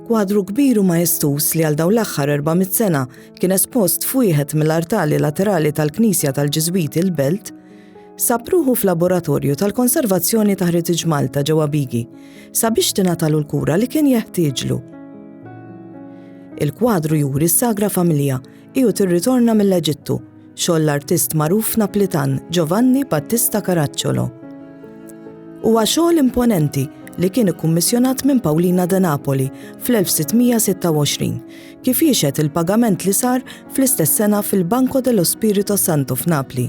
Kwadru kbiru majestus li għal daw l-aħħar 400 sena kien espost f'wieħed mill-artali laterali tal-Knisja tal-Ġiżwiti l-Belt, sapruħu f'laboratorju tal-konservazzjoni ta' Heritage Malta ġewwa Bigi sabiex tingħatalu l-kura li kien jeħtieġlu. Il-kwadru juri s-sagra familja Hi u tirritorna mill-Eġittu, xogħol l-artist magħruf Naplitan Giovanni Battista Caracciolo. Huwa xogħol imponenti li kien ikkummissjonat minn Paulina de Napoli fl-1626, kif jixhed il-pagament li sar fl-istess sena fil-Banco dello Spirito Santo f'Napli.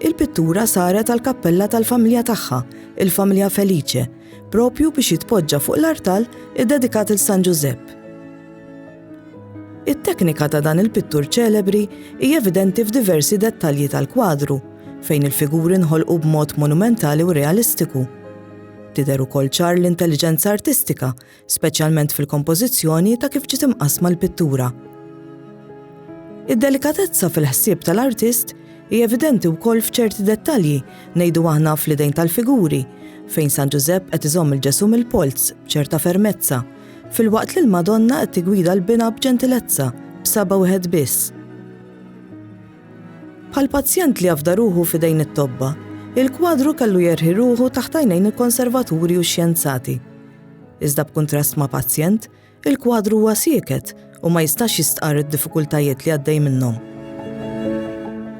Il-pittura saret għal kappella tal-familja tagħha, il-familja Felice, propju biex jitpoġġa fuq l-artal iddedikat il San Ġużepp. It-teknika ta' dan il-pittur ċelebri hija evidenti f'diversi dettalji tal-kwadru, fejn il-figuri nħolqu b'mod monumentali u realistiku. Tidher ukoll ċar l-intelliġenza artistika speċjalment fil-kompożizzjoni ta' kif ġiet imqassma l-pittura. Id-delikatezza fil-ħsieb tal-artist hi evidenti wkoll f'ċerti dettalji ngħidu aħna fl-idejn tal-figuri, fejn San Ġużepp qed iżomm il-Ġesù mill-polz b'ċerta fermezza, filwaqt li l-Madonna qed tigwida l-bina b'ġentilezza b'saba wieħed biss. Bħal pazjent li jafda ruħu fidejn it-tobba, il-kwadru kellu jerħi ruħu taħt għajnejn il-konservaturi u xjenzati. Iżda b'kuntrast ma' pazjent, il-kwadru huwa sieket u ma jistax jistqarr id-diffikultajiet li għaddej minnhom.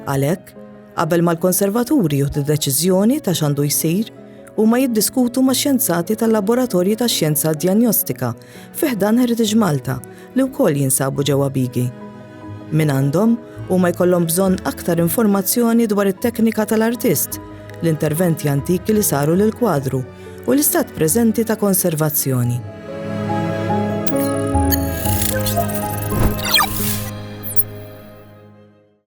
Għalhekk, qabel ma l-konservaturi juħdu deċiżjoni ta' x'għandu jsir, huma jiddiskutu ma' xjenzati tal-Laboratorji tax-Xjenza Djanjostika fi ħdan Heritage Malta li wkoll jinsabu ġewwa Bigi. Min għandhom huma jkollhom bżonn aktar informazzjoni dwar it-teknika tal-artist, l-interventi antiki li saru lill-kwadru, u l-istat preżenti ta' konservazzjoni.